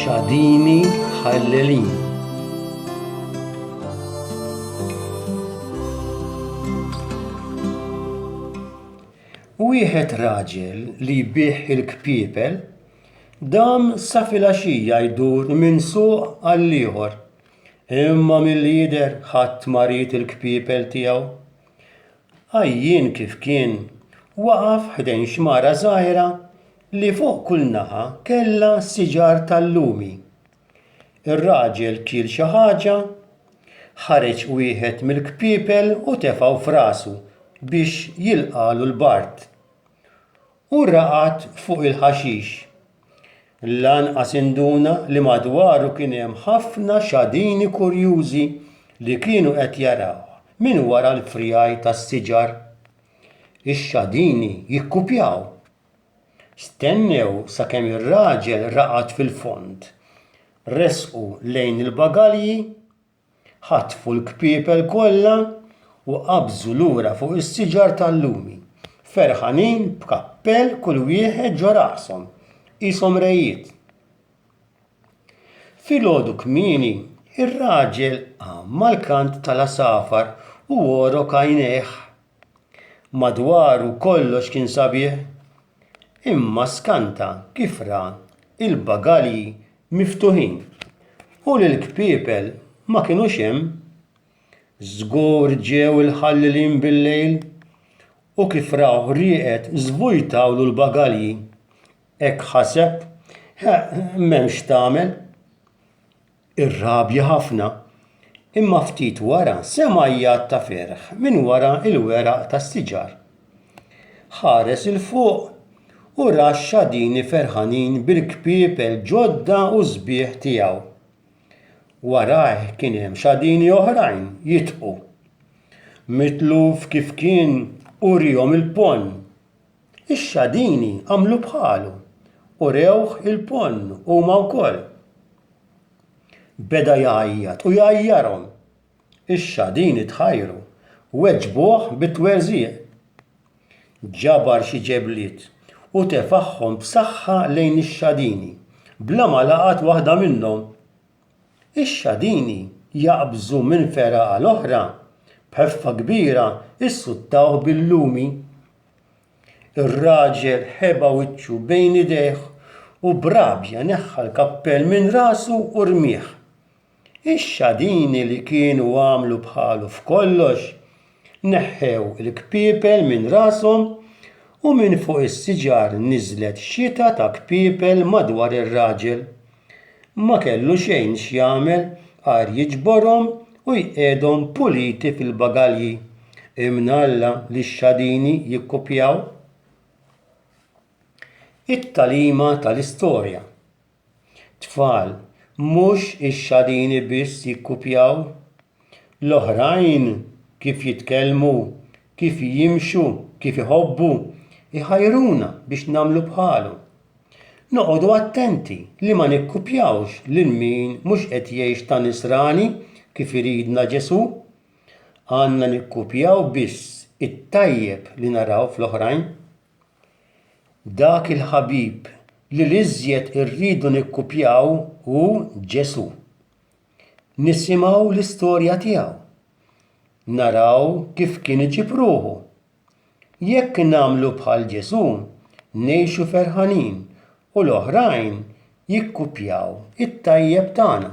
Xadini Ħallelin Wieħed raġel li jbih il-kpiepel dam sa filgħaxija jdur minn suq għall-ieħor Imma milli jidher ħadd ma ried il-kpiepel tiegħu. Għajjien kif kien, waqaf ħdejn xmara żgħira li fuq kull naħa kellha siġar tal-lumi. Ir-raġel kiel xi ħaġa, ħareġ wieħed mill-kpiepel u tefgħu f'rasu biex jilqagħlu l-bard. u raqad fuq il-ħaxix. Lanqas induna li madwaru kien hemm ħafna xadini kurjużi li kienu qed jarawh minn wara l-frjaj tas-siġar. Ix-xadini jikkupjaw. Stennew sakemm ir-raġel raqad fil-fond. Resqu lejn il-bagalji Ħatfu l-kpiepel kollha u qabżu lura fuq is-siġar tal-lumi, ferħanin b'kappell kull wieħed ġo rashom, qishom rejiet. Filgħodu kmieni, ir-raġel qam mal-kant tal-għasafar u għorok għajnejh. Madwaru kollox kien sabiħ. imma skanta kif ra l-bagalji miftuħin u li l-kpiepel ma kinux hemm. Żgur ġew il-ħallilin bil-lejl u kif rawh rieqed żvujtawlu l-bagalji. Hekk ħaseb, eħ, m'hemm x'tagħmel. Irrabja ħafna, imma ftit wara sema' għajjat ta' ferħ minn wara l-weraq tas-siġar. Ħares 'il fuq u ra x-xadini ferħanin bil-kpiepel ġodda u sbieħ tiegħu. Warajh kien hemm xadini oħrajn jitqu. Mitluf kif kien, uriehom il-ponn. Ix-xadini għamlu bħalu u rewh il-ponn huma wkoll. Beda jgħajjat u jgħajjarhom. Ix-xadini tħajru, weġbuh bit-twerżiq. Ġabar xi ġebliet u tefagħhom b'saħħa lejn ix-xadini, bla ma laqat waħda minnhom. Ix-xadini jaqbżu minn fergħa għal oħra, b'ħeffa kbira jsuttawh bil-lumi Ir-raġel ħeba wiċċu bejn idejh u b'rabja neħħa l-kappell minn rasu u rmieh. Ix-xadini li kienu għamlu bħalu f'kollox, neħħew il-kpiepel minn rashom u minn fuq is-siġar niżlet xita ta' kpiepel madwar ir-raġel. ma kellu xejn x'jagħmel għajr jiġborhom u jqiegħdhom puliti fil-bagalji. Imnalla li x-xadini jikkupjaw it-tagħlima tal-istorja. Tfal, mhux ix-xadini biss jikkupjaw L-oħrajn kif jitkellmu, kif jimxu, kif iħobbu, iħajruna biex nagħmlu bħalhom. Noqogħdu attenti li ma nikkupjawx lil min mhux qed jgħix ta' Nisrani kif iridna Ġesù. Għandna nikkupjaw biss it-tajjeb li naraw fl-oħrajn. Dak il-ħabib li l-iżjed irridu nikkupjaw hu Ġesù. nisimgħu l-istorja tiegħu, naraw kif kien iġib ruħu. Jekk nagħmlu bħal Ġesù, ngħixu ferħanin u l-oħrajn jikkupjaw it-tajjeb tagħna.